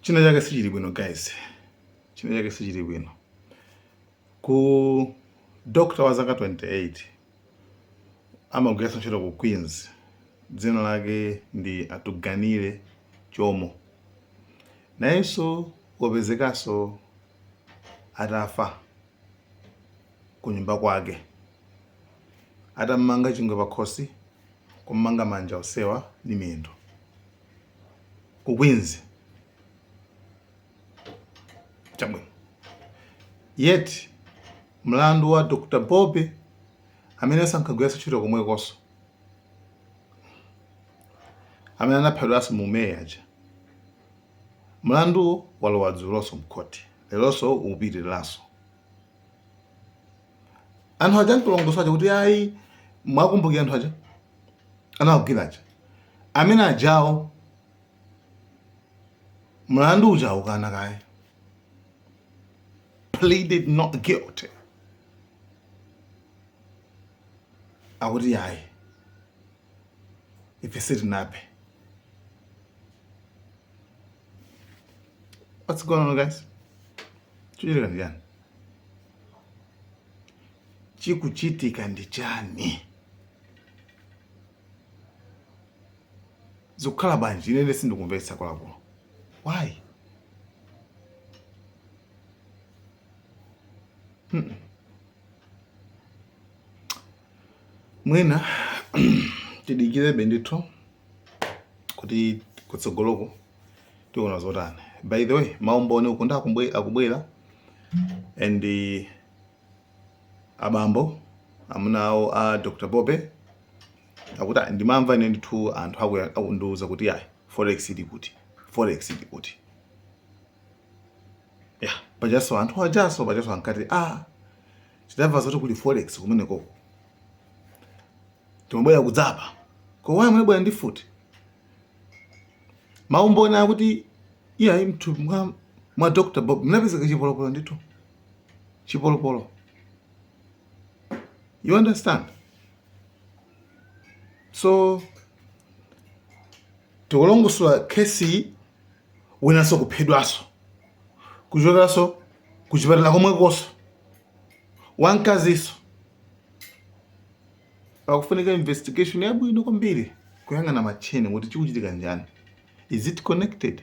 china chake sichili bwino guys china chake sichili bwino ku doctor wa zaka 28 amagwiranso ntchito ku queens dzina lake ndi atuganile chomo nayenso wapezekanso atafa ku nyumba kwake atam'manga chingwe pakhosi kum'manga manja onsewa ndi miyendo ku Queens chabwino yet mlandu wa Dr. Bob amene sankagwiranso ntchito komwekonso amene anaphedwanso mu May aja mlandu walowa dzulonso m'khoti leronso upitiriranso anthu aja nkulongosola kuti ayi mwakumbukira anthu aja anawagwira aja amene ajawo mlandu uja ukana kaye pleaded not guilty akuti yayi ife sitinaphe what's going on guys chichitika ndi chani chikuchitika ndi chani zikukhala bwanji ine sindikumvetsa kwakulu why Mm-mm. mwina tidikirebe ndithu kuti kutsogoloko tiona zotani by the way maumboni ukunso akubwe- akubwera and eh, abambo amuna awo a Dr. Bob akuti "Ah, ndimamva ine ndithu anthu aku- akundiwuza kuti ayi forex ili kuti forex ili kuti ya pajanso anthu ajanso pajanso ankati a tidamva zoti kuli forex kumenekoko timabwera kudzaba koma why munabwera ndi mfuti maumboni akuti iyayi m'mutu mwa, mwa dr bob munapezeka chipolopolo ndithu chipolopolo you understand so tikulongosola nurse winanso kuphedwanso kuchokeranso kuchipatala komwekonso wamkazinso pakufunika investigation yabwino kwambiri kuyang'ana matcheni kuti chikuchitika n'chani is it connected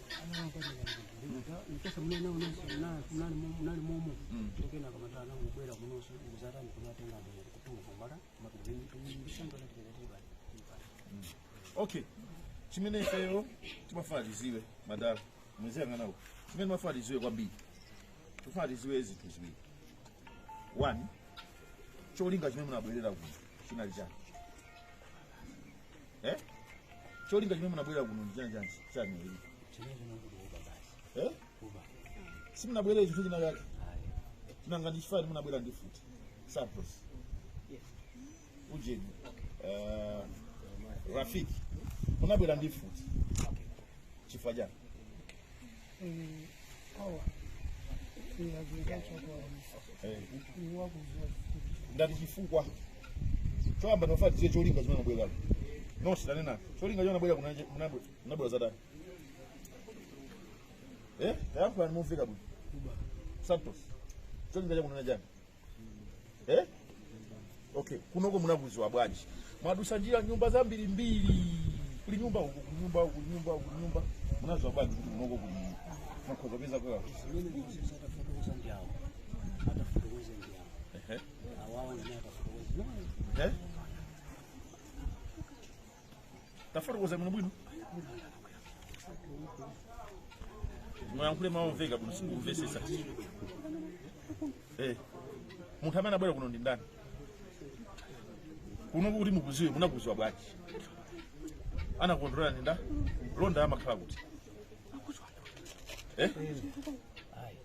okay chimene ifeyo timafuna tiziwe madala muziyang'ana kuno chimene timafuna tiziwe kwambiri tifuna tiziwe zinthu ziwiri one cholinga chimene munabwerera kuno chinali chani eh cholinga chimene munabwera kuno ndi chani chani chani ili eh simunabwerere chinthu china chake nanga ndi chifani munabwera ndi futi santos ujeni eh, rafiki munabwera ndi futi chifukwa chani ndati chifukwa choyamba ndofuna tiziwe cholinga chimene munabwera kuno nonse tanena cholinga chimene munabwera kunanje- munabwe- munabwera zatani eh tayankhulani momveka bwino santos cholinga chake chinali chani eh? okay kunoko munakuziwa bwanji mwadusa njira nyumba zambiri mbiri kuli nyumba uku kuli nyumba uku kuli nyumba uku kuli nyumba munaziwa bwanji kuti kunoko mukhoza kupeza kwa zimene ndikuziwa atafotokoza ndi awo atafotokoza ndi awo ehe awawo amene atafotokoza eh tafotokoza bwino bwino muyankhule mawu omveka bwino sindikumvesesa eh munthu amene anabwera kuno ndi ndani kuno kuti mukuziwe munakuziwa bwanji anakulondolera ndi nda londa amakhala kuti eh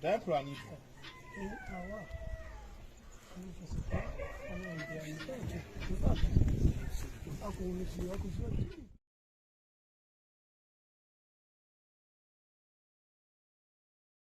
tayankhulanipo